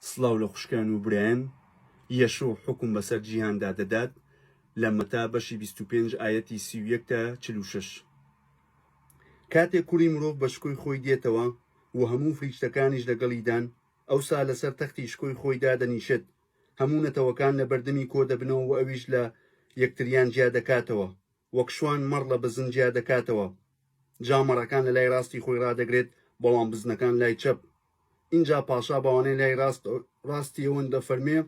سڵاو لە خوشکان و برایان. یەشوع حوکم بەسەر جیهاندا دەدات لە مەتا بەشی بیست و پێنج ئایەتی سی و یەک تا چل و شەش. کاتێک کوڕی مرۆڤ بە شکۆی خۆی دێتەوە و هەموو فریشتەکانیش لەگەڵیدان، ئەوسا لەسەر تەختی شکۆی خۆی دادەنیشێت، هەموو نەتەوەکان لە بەردەمی کۆدەبنەوە و ئەویش لە یەکتریان جیادەکاتەوە. وەک شوان مەڕ لە بزن جیا دەکاتەوە جا مەڕەکان لە لای ڕاستی خۆی ڕادەگرێت بەڵام بزنەکان لای چەپ ئینجا پاشا بەوانەی لای ڕاست ڕاستی ئەوەن دەفەرمێ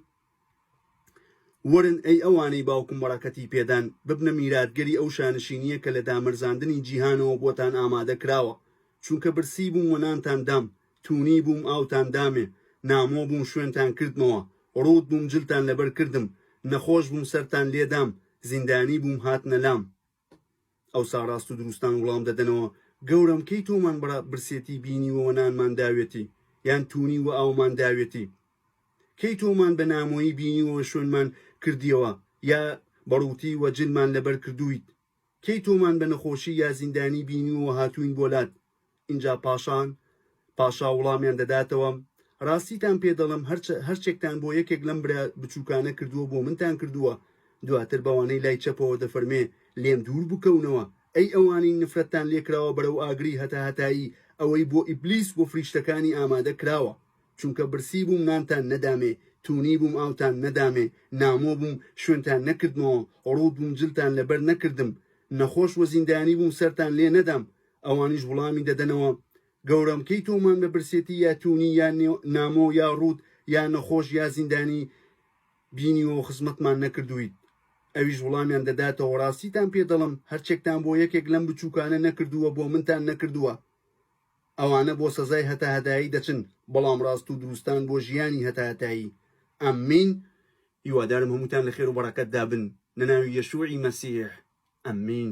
وەرن ئەی ئەوانەی باوکم بەڕەکەتی پێدان ببنە میراتگەری ئەو شانشینیە کە لە دامەرزاندنی جیهانەوە بۆتان ئامادە کراوە چونکە برسی بووم و نانتان دام تونی بووم ئاوتان دامێ نامۆ بووم شوێنتان کردمەوە ڕووت بووم جلتان لەبەر کردم نەخۆش بووم سەرتان لێ دام زیندانی بووم هاتنە لام ئەوسا ڕاست و دروستان وڵام دەدەنەوە گەورەم کەی تۆمان بڕە برسێتی بینیوە وە نانمان داوێتی یان تونی وە ئاومان داوێتی کەی تۆمان بە نامۆیی بینیوە شوێنمان کردیەوە یا بە ڕووتی وە جلمان لەبەر کردوویت کەی تۆمان بە نەخۆشی یا زیندانی بینیوە و هاتووین بۆ لات؟ ئینجا پاشان پاشا وڵامیان دەداتەوە، ڕاستیتان پێ دەڵێم هەرچە هەرچێکتان بۆ یەکێک لەم برا بچووکانە کردووە بۆ منتان کردووە، دواتر بەوانەی لای چەپەوە دەفەرمێ لێم دوور بکەونەوە، ئەی ئەوانەی نفرەتتان لێ کراوە بەرەو ئاگری هەتاهەتایی ئەوەی بۆ ئیبلیس و فریشتەکانی ئامادە کراوە. چونکە برسی بووم نانتان نەدامێ، توونی بووم ئاوتان نەدامێ، نامۆ بووم شوێنتان نەکردمەوە، ڕووت بووم جلتان لەبەر نەکردم، نەخۆش و زیندانی بووم سەرتان لێ نەدام. ئەوانیش وڵامی دەدەنەوە، گەورەم کەی تۆمان بە برسێتی یا توونی یا نامۆ یا ڕووت یا نەخۆش یا زیندانی بینیوە و خزمەتمان نەکردوویت؟ ئەویش وڵامیان دەداتەوە، ڕاستیتان پێ دەڵم، هەرچێکتان بۆ یەکێک لەم بچووکانە نەکردووە بۆ منتان نەکردووە. ئەوانە بۆ سەزای هەتاهەتایی دەچن بەڵام ڕاست و دروستان بۆ ژیانی هەتاهەتایی امین هیوادارم هەمووتان لەخێرو بەڕەکەتدا بن لەناوی یەشوعی مەسیح امین.